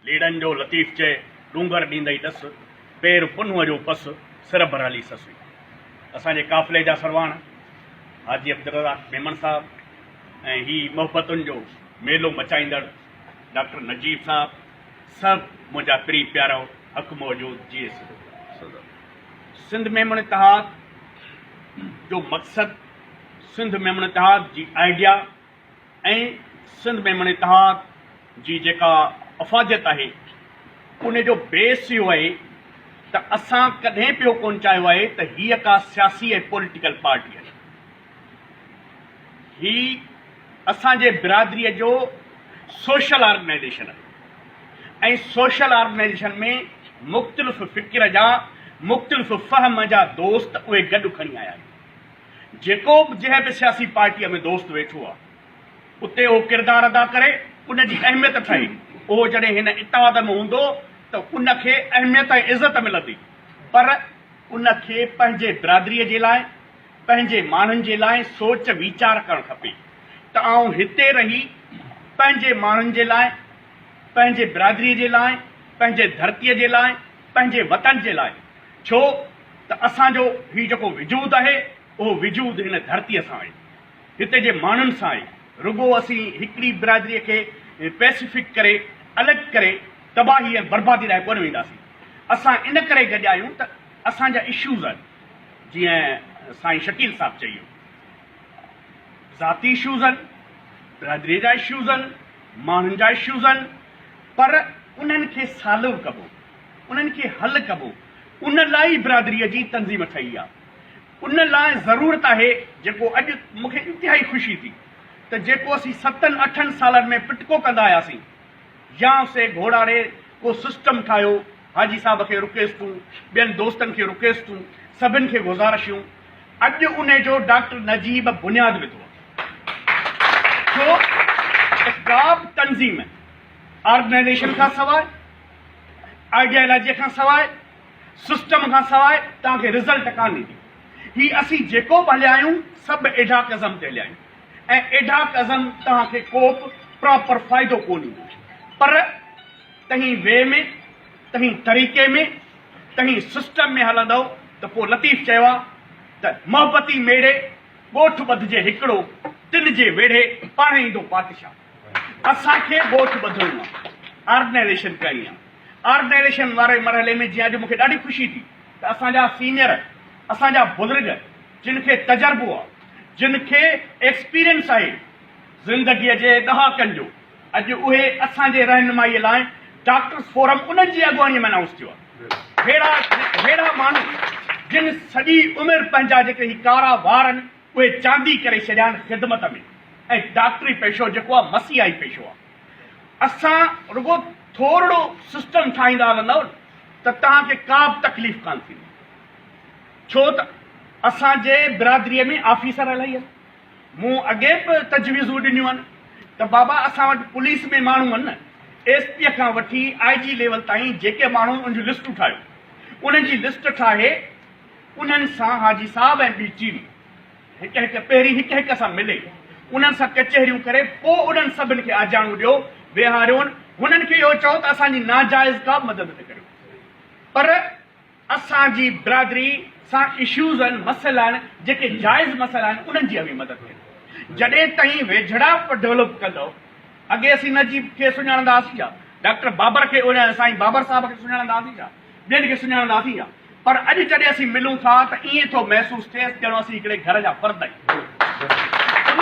ليڙن جو لطيف چئي، ڏونگر ڏيندئي ڏس، پير پنهونء جو پس، سر برهلي سس وئي. اسان جي قافلي جا سرواڻ حاجي عبدالرزاق ميمڻ صاحب ۽ هي محبتن جو ميلو مچائيندڙ ڊاڪٽر نجيب صاحب سڀ منهنجا پري پيارو حق موجود جيئي سڌو سنڌ ميمڻ اتحاد جو مقصد سنڌ ميمڻ اتحاد جي آئيڊيا ۽ سنڌ ميمڻ اتحاد جي جيڪا افاديت آهي ان جو بيس اهو آهي ته اسان ڪڏهن به اهو ڪونه چاهيو آهي ته هيء ڪا سياسي ۽ پوليٽيڪل پارٽي آهي. هي اسان جي برادريء جو سوشل آرگنائيزيشن آهي ۽ سوشل آرگنائيزيشن ۾ مختلف فڪر جا، مختلف فهم جا دوست اهي گڏ کڻي آيا آهن. جيڪو به جنهن به سياسي پارٽيء ۾ دوست ويٺو آهي، اتي اهو ڪردار ادا ڪري، ان جي اهميت ٺهي. اهو جڏهن هن اتحاد ۾ هوندو ته ان کي اهميت ۽ عزت ملندي، پر ان کي پنهنجي برادريء جي لاء، پنهنجي ماڻهن جي لاء سوچ ويچار ڪرڻ کپي ته آئون هتي رهي پنهنجي ماڻهن جي لاء، پنهنجي برادريء جي لاء، پنهنجي ڌرتيء جي لاء، پنهنجي وطن جي لاء، ڇو ته اسان جو هي جيڪو وجود آهي اهو وجود هن ڌرتيء سان آهي، هتي جي ماڻهن سان آهي، رڳو اسين هڪڙي برادريء کي پئسيفڪ ڪري، الڳ ڪري، تباهي ۽ بربادي ڏانهن ڪونه وينداسين. اسان ان ڪري گڏ آهيون ته اسان جا اشوز آهن جيئن سائين شڪيل صاحب چئي ويو ذاتي اشوز آهن، برادريء جا اشوز آهن، ماڻهن جا اشوز آهن پر انهن کي سالو ڪبو. انهن کي حل ڪبو ان لاء ئي برادريء جي تنظيم ٺهي آ ان لاء ضرورت آهي جيڪو اڄ مون کي انتهائي خوشي ٿي ته جيڪو اسين ستن اٺن سالن ۾ پٽڪو ڪندا آياسين يا سي گهوڙاري ڪو سسٽم ٺاهيو حاجي صاحب کي رڪيستون ٻين دوستن کي رڪيستون سڀن کي گذارشيون اڄ انهي جو ڊاڪٽر نجيب بنياد وڌو آ ڇو اسٽاف تنظيم آرگنائيزيشن کان سواء آئيڊيالاجيء کان سواء، سسٽم کان سواء توهان کي رزلٽ ڪانه ايندو. هي اسين جيڪو به هليا آهيون، سڀ ايڊهاڪ ازم تي هليا آهيون ۽ ايڊهاڪ ازم توهان کي ڪوبه پراپر فائدو ڪونه ڏيندو. پر تنهين وي ۾، تنهين طريقي ۾، تنهين سسٽم ۾ هلندؤ ته پوء لطيف چيو آهي ته محبتي ميڙي، ڳوٺ ٻڌجي هڪڙو، تن جي ويڙهي پاڻهي ايندو پادشاهه. اسان کي ڳوٺ ٻڌڻو آ. آرگنائيزيشن ڪرڻي آ. آرگنائيزيشن واري مرحلي ۾ جي اڄ مون کي ڏاڍي خوشي ٿي ته اسان جا سينئر، اسان جا بزرگ جن کي تجربو آ، جن کي ايڪسپيرينس آهي زندگيء جي ڏهاڪن جو، اڄ اهي اسان جي رهنمائيء لاء ڊاڪٽرس فورم انهن جي اڳواڻيء ۾ انائونس ٿيو آ. ههڙا ماڻهو جن سڄي عمر پنهنجا جيڪي هي ڪارا وار آهن، اهي چاندي ڪري ڇڏيان خدمت ۾ ۽ ڊاڪٽري پيشو جيڪو آ مسيحائي پيشو آ اسان رڳو ٿورڙو سسٽم ٺاهيندا هلندؤ نه ته توهان کي ڪابه تڪليف ڪان ٿيندي ڇو ته اسان جي برادري ۾ آفيسر الائي آهن مون اڳي به تجويزون ڏنيون آهن ته بابا اسان وٽ پوليس ۾ ماڻهو آهن نه ايس پي کان وٺي آئي جي ليول تائين جيڪي ماڻهو ان جون لسٽون ٺاهيو انهن جي لسٽ ٺاهي انهن سان حاجي صاحب ۽ بي ٽي وي هڪ هڪ پهرين هڪ هڪ سان ملي انهن سان ڪچهريون ڪري پوء انهن سڀن کي آجياڻو ڏيو ويهاريون هنن کي اهو چئو ته اسان جي ناجائز ڪا مدد نه ڪريو پر اسان جي برادري سان اشوز آهن مسئلا آهن جيڪي جائز مسئلا آهن انهن جي اوهين مدد ڪريو جڏهن تائين ويجهڙا ڊولپ ڪندو اڳي اسين نجيب کي سڃاڻندا هئاسين ڇا ڊاڪٽر بابر کي سائين بابر صاحب کي سڃاڻندا هئاسين ڇا ٻين کي سڃاڻندا هئاسين ڇا پر اڄ جڏهن اسين ملون ٿا ته ائين ٿو محسوس ٿئيس ڄڻو اسين هڪڙي گهر جا فرد آهيون.